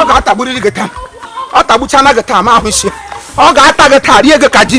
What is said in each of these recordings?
ọ ga-atagburiri gị taa ọ tagbuchana gị taa ma ahụ isi ọ ga-ata gị taa rie gị ka ji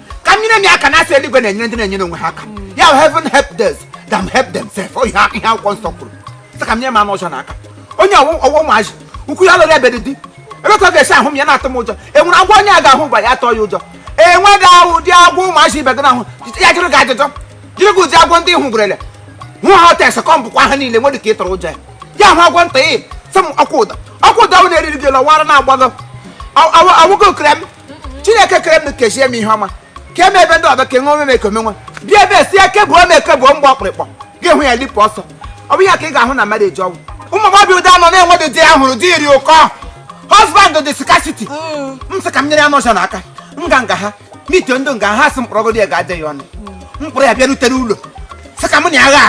ka m nyere m aka na a sị eluigwe na-enyere ndị na-enyere onwe ha aka ya bụ heaven help those that help themselves ọ ihe a- ihe akwụkwọ nsọ kwuru sị ka m nyere m anụ ọcha na aka onye ọwụ ọwụ ụmụazị ukwu ya lụrụ ebe dị di ebe ka ọ ga-esi ahụ m ya na-atụ m ụjọ enwere agwọ onye a ga-ahụ ụgwa ya atụ ya ụjọ enweghị ahụ ụdị agwọ ụmụazị ibe gị na-ahụ ya jụrụ gị ajụjụ jụrụ gị ụdị agwọ ndị hụ gwerele hụ ha ọta ese kọm bụkwa ha niile nwere ka ị tụrọ ụjọ ya ya hụ agwọ nta ị sị m ọkwa ụda ọkwa ụda ahụ na-eriri gị lọwara na-agbago awụgo okere m chineke kere m kechie m ihe ọma ka eme ebe ndị ọzọ ka enwe omeme ekome nwa bịa ebe si eke bụ ome eke bụ mgbe ọkpụrịkpọ gị hụ ya lipụ ọsọ ọ bụ ya ka ị ga-ahụ na mmadụ eji ọgwụ ụmụ agbọghọbịa ụda nọ na-enwedị di ya hụrụ di dị ụkọ husband dị scarcity m sị ka m nyere ya anụ ọcha n'aka m gaa nga ha n'ite ndụ nga ha sị m kpọrọgodi ya ga-adị ya ọnụ m kpọrọ ya bịarutere ụlọ sị ka m na agha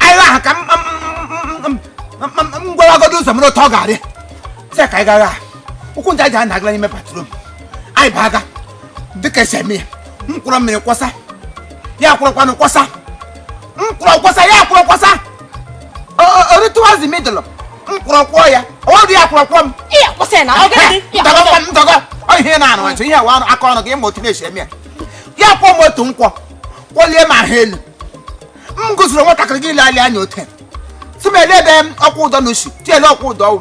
ahụ agha ahụ ka m gwaragodo ụzọ m n'otu ọ ga-adị sị ka anyị ga ghụọ ahụ ụkwụ nta ji a na-agala n'ime bathroom anyị abụọ aga dịka esi eme ya m kuru mmiri kwọsa ya kurukwanụ kwọsa m kuru kwọsa ya kuru kwọsa o rutewazi middle m kuru kwọọ ya ọdụ ya kuru kwọọ m Iya, kwụsị ya na ọ gịnị dị? Iya, kwụsị ya. ntọgọ ọ ihe na-arụ ọchụ ihe a wụ aka ọnụ gị ị ma otu na-esi eme ya ya kwọọ m otu nkwọ kwọlie m ahụ elu m gụziri nwatakịrị gị ile anya otu a. si m ele ebe ọkwụ ụdọ na usu tiele ọkwụ ụdọ ọwụ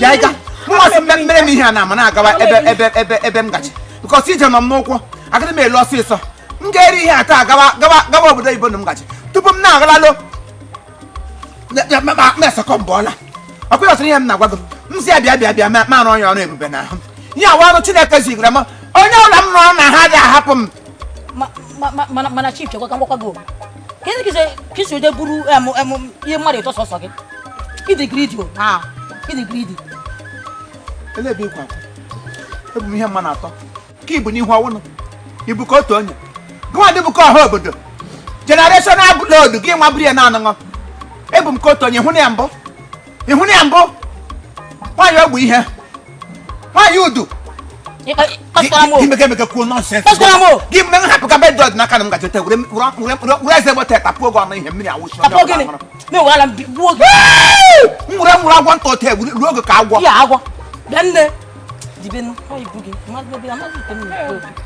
bịa ịga mmasị mbe mere m ihe a na-ama na-agawa ebe ebe ebe ebe m gaji because ije nọ m n'ụkwụ agaghị m alọ ọsịsọ m ga-eri ihe a taa gawa gawa gawa obodo oyibo na m gaji tupu m na-agala alọ mesakọ mgbe ọla ọkwa ọsịrị ihe m na-agwa gị m si ya bịa bịa bịa ma ma rụọ ya ọrụ ebube n'ahụ. ihe a wụ ọrụ chineke zigara m onye ọla m rụrụ anahadị ahapụ m mana chief chekwa ka m gwakwa gị kedụ kize ka i si eje buru ihe mmadụ ịtọ sọsọ gị ị dị greedy o na ị dị greedy ele ebe ịkwa ebu m ihe mmadụ atọ ka i bu n'ihu ọ wụnụ i bu ka otu onye gịnwa dị bu ka ọha obodo generational load gị nwa buru ya na anụṅụ ebu m ka otu onye ịhụnanya mbụ ịhụnanya mbụ nwaanyị ogbu ihe nwaanyị udu imekemeke kwuo nonsense gị mgbe m hapụ ka bedod n'aka na m gaji were eze gbata tapuo gị ọnụ ihe mmiri awụsi m were nwụrụ agwọ nta ote ruo oge ka agwọ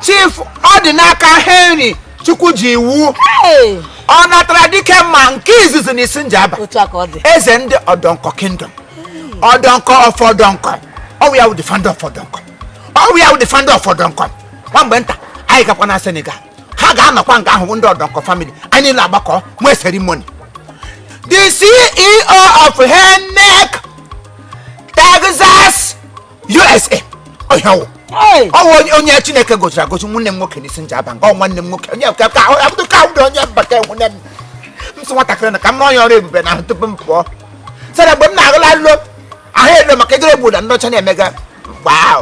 chief ọdịnaka henry chukwuji iwu ọnatara dike mma nke izizi n'isi njaba eze ndị ọdọnkọ kingdom ọdọnkọ of ọdọnkọ ọ wụ ya wụ the founder of ọdọnkọ ọ wụ ya wụ the founder of ọdọnkọ nwa mgbe nta anyị gakwa na senegal ha ga-anọkwa nga ahụ ndị ọdọnkọ family anyị na-agbakọ nwee ceremony the ceo of henek texas usa ọ ya ọ wụ onye chineke goziri agozi nwanne m nwoke n'isi njaba nke ọ nwanne m nwoke onye ka ka abụdụ ka ụdị onye mbata nwunye m m si nwatakịrị na ka m rụọ ya ọrụ ebube na ahụ tupu m pụọ sara mgbe m na-agụla alụ ahụ elo maka ejere obodo ndị ọcha na-emega wow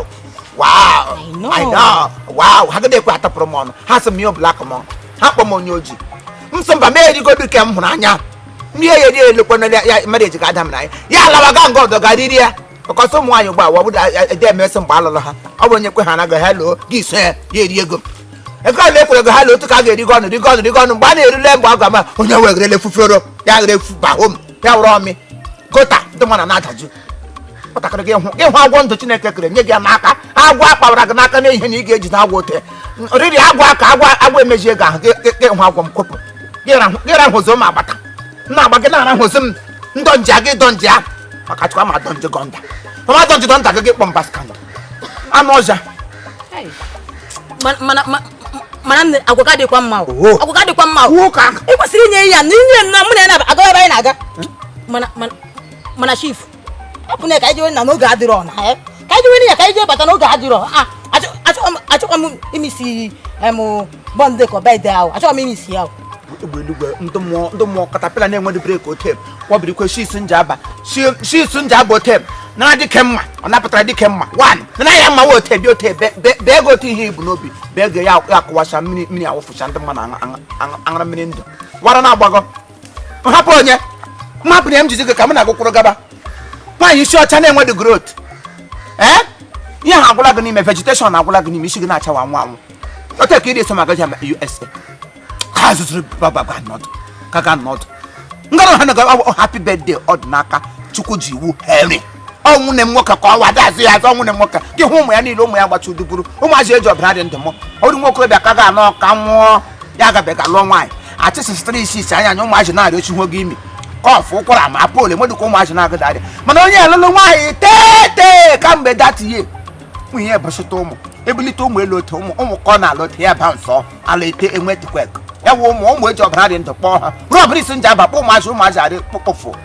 wow i know wow ha gịdị ekwe atapụrụ m ọnụ ha sị m ihe ọbụla akụ m ha kpọ m onye ojii m sị mba m erigodu ke m hụrụ anya ihe ya eri elekwana ya mmadụ eji ga ada m na ya ya alawa ga nga ọdọ ga riri ya because ụmụ nwaanyị ugbu a wọbụda ede emesị mgbe alụrụ ha ọ bụ onye kwe ha na ga ha loo gị so ya ya eri ego ego a na-ekwere go ha loo otu ka a ga-erigo ọnụ rigo ọnụ rigo ọnụ mgbe a na-erule mgbe ọ ga-ama onye wegerele fufero ya ghere efu bahom ya were ọmị gota ndị mmadụ na-adaju nwatakịrị gị hụ gị hụ agwọ ndụ chineke kere nye gị ya n'aka agwọ akpawara gị n'aka n'ihe na ị ga-ejide agwọ ote riri agwọ aka agwọ agwọ emejie gị ahụ gị hụ agwọ m kwepụ gị rahụ ụzọ ma agbata na agba gị na-arahụzi m ndọ nje aga ịdọ nje ahụ maka chịkwa ma adọ nje gọnda mama adọ nje gọnda gị kpọ mba skandal anụ ọhịa mana nne agwa gị adịkwa mma agwa gị adịkwa mma ị kwesịrị inye ya na inye na mụ na ya na-aga ebe anyị na-aga mana chief ọ bụ na ka anyị jee na oge adịrọ na ya ka anyị jewe ya ka anyị jee bata na oge adịrọ ah, achọkwa m imisi bọndụ ka ọba ide ahụ achọkwa m imisi ya egbe eluigwe ndị mmụọ caterpillar na-enwedị brake otem kwọbiri kwe shi isi njaba shi isi njaba otem nara dike mma ọ napụtara dike mma one nara ya mma ote bi ote bee go otu ihe i bu n'obi bee go ya akụwacha mmiri mmiri awụfụcha ndị mmadụ aṅara mmiri ndụ wara na-agbagọ hapụ onye mmapụ na m jizi gị ka m na-agụkwụrụ gaba nwaanyị isi ọcha na-enwedị growth ee ihe ha agwụla gị n'ime vegetation agwụla gị n'ime isi gị na-achawa anwụ anwụ ote ka ị na-eso m aga usa ka zụzụrụ bababa nọdụ ka ga nọdụ ngara ha na happy birthday ọdịnaka chukwuji iwu henry ọ wụ na nwoke ka ọwa dị azụ ya azụ ọ wụ na nwoke gị hụ ụmụ ya niile ụmụ ya gbacha uduburu ụmụazị eji ọbara dị ndụ mụrụ nwa okorobịa ka ga-anọ ka nwụọ ya agabeghị alụọ nwaanyị achịsịsịtara isi isi anya anya ụmụazị na-arị ochi hụ gị imi cough ụkwara ma pol emedụka ụmụazị na-agada arịa mana onye alụlụ nwaanyị tete kamgbe that year nwunye ebusịta ụmụ ebulite ụmụ elu otu ụmụ ụmụ ka ọ na-alụ otu ya ba nsọ ala ete enwe tikwek ya wụ ụmụ ụmụ eji ọbara dị ndụ kpọọ ha ruo ọbara isi njaba kpọ ụmụazị ụmụazị arị kpụkpụfụ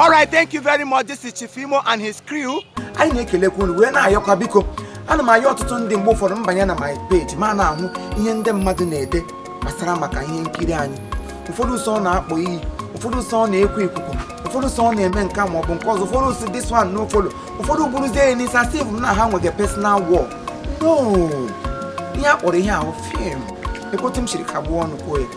All right, thank you very much. This is Chief Imo and his crew. Anyị na-ekelekwa unu wee na-ayọkwa biko ana m ayọ ọtụtụ ndị mgbe ụfọdụ m banye na my page ma na-ahụ ihe ndị mmadụ na-ede gbasara maka ihe nkiri anyị ụfọdụ sị ọ na-akpọ iyi ụfọdụ sị ọ na-ekwu ikuku ụfọdụ sị ọ na-eme nke ma ọ bụ nke ọzọ ụfọdụ sị this one no follow ụfọdụ buruzie ya n'isi as if na ha nwere personal war no ihe a kpọrọ ihe ahụ film lekwa otu m siri kagbuo ọnụ kwuo ya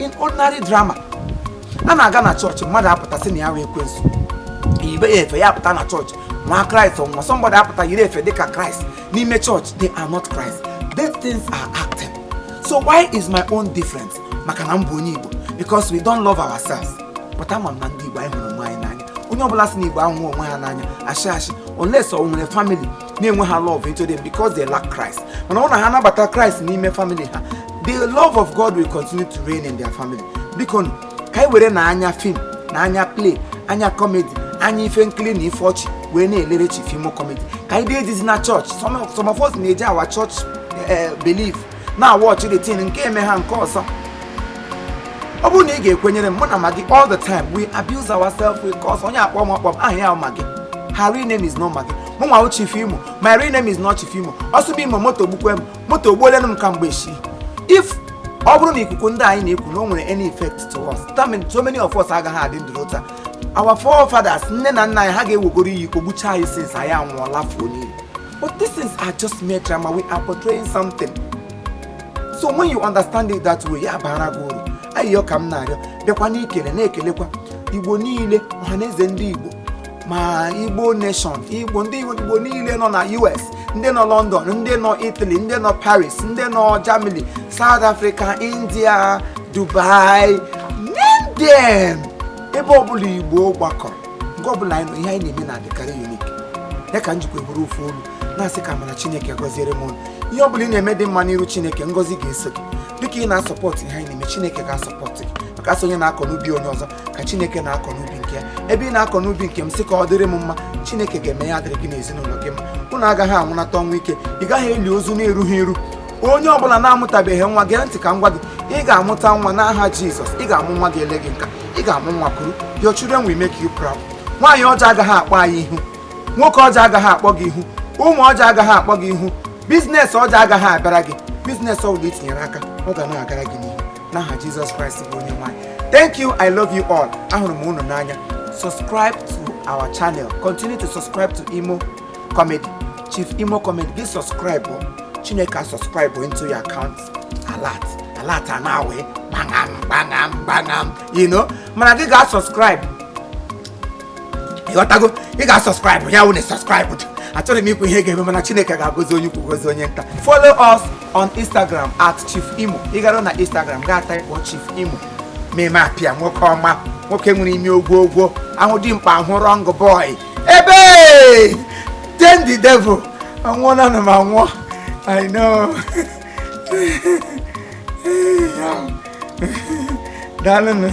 in ordinary drama a na-aga na chọọchị mmadụ apụta sị na ya wụ ekwensu yibe efe ya apụta na chọọchị nwa kraịst or somebody apụta yiri efe dịka kraịst n'ime chọọchị they are not Christ these things are acting so why is my own different maka na m bụ onye igbo because we don't love ourselves but ama m na ndị igbo anyị hụrụ onwe anyị n'anya onye ọbụla sị na igbo ahụghị onwe ha n'anya ashị ashị unless o nwere family na-enweghị love into them because they lack Christ mana ọ na ha nabata Christ n'ime family ha the love of God will continue to reign in their family biko nụ, ka anyị werenụ anya film na anya play anya comedy anya ife nkiri na ife ọchị wee na-elere Chief Imo comedy ka anyị dee dizi na church some of- some of us na-eji our church eh, belief na watch the thing nke eme ha nke ọzọ ọ bụrụ na ị ga-ekwenyere m mụ na Maggi all the time we abuse ourselves we curse onye akpọ m akpọ m aha ya Maggi her real name is not Maggi mụnwa chief imo my real name is not chief imo ọ sị bụ imo moto gbukwe m moto ogbuolenụ m ka mgbe see if ọ bụrụ na ikuku ndị anyị na-ekwu na o nwere any effect to us that means so many of us agaghị adị ndụ n'otu a our forefathers nne na nna anyị ha ga-ewegoro iyi kọgbuchaa anyị since anyị anwụọla fuo n'iyi but these things are just mere drama we are portraying something so when you understand it that way ya bara gị uru ayịyọ ka m na-arịọ bịakwa na-ekele na-ekelekwa igbo niile ọha na eze ndị igbo ma igbo nation igbo ndị igbo niile nọ na us ndị nọ london ndị nọ italy ndị nọ paris ndị nọ germany south africa india dubai name them ebe ọbụla igbo gbakọrọ nke ọbụla anyị nọ ihe anyị na-eme na-adịkarị unique ya ka m jikwa bụrụ ofu olu na-asị ka amara chineke gọziere m unu ihe ọbụla ị na-eme dị mma n'iru chineke ngọzi ga-eso gị dịka ị na-support ihe anyị na-eme chineke ga-support gị maka a sị onye na-akọ n'ubi onye ọzọ ka chineke na-akọ n'ubi nke ya ebe ị na-akọ n'ubi nke m sị ka ọ dịrị m mma chineke ga-eme ya dịrị gị n'ezinụlọ gị mma unu agaghị anwụnata ọnwụ ike ị gaghị eli ozu na-erughị eru onye ọbụla na-amụtabeghị nwa gee ntị ka m gwa gị ị ga-amụta nwa n'aha jizọs ị ga-amụ nwa ga-ele gị nka ị ga-amụ nwa kuru your children will make you proud nwaanyị ọjọọ agaghị akpọ anyị ihu nwoke ọjọọ agaghị akpọ gị ihu ụmụ ọjọọ agaghị akpọ gị ihu business ọjọọ agaghị abịara gị business ọbụla i tinyere aka ọ ga na-agara gị n'ihu n'aha jizọs kraịst bụ onye nwe anyị thank you i love you all ahụrụ m unu n'anya subscribe to our channel continue to subscribe to imo comedy chief imo comedy gị subscribe o. chineke a subscribe o into your account alert alert a na-awe gbangam gbangam gbangam you know mana gị ga subscribe ịghọtago ị ga-asubscribe ya wụ na subscribe dị achọrọ m ikwu ihe ga-eme mana chineke ga-agọzi onye ukwu gọzi onye nta follow us on instagram at chief imo ị gara na instagram gaa type chief imo meme apịa nwoke ọma nwoke nwere ime ogwo ogwo ahụ dimkpa ahụ wrong boy ebe then the devil anwụọ na ana m anwụọ i know daalụnụ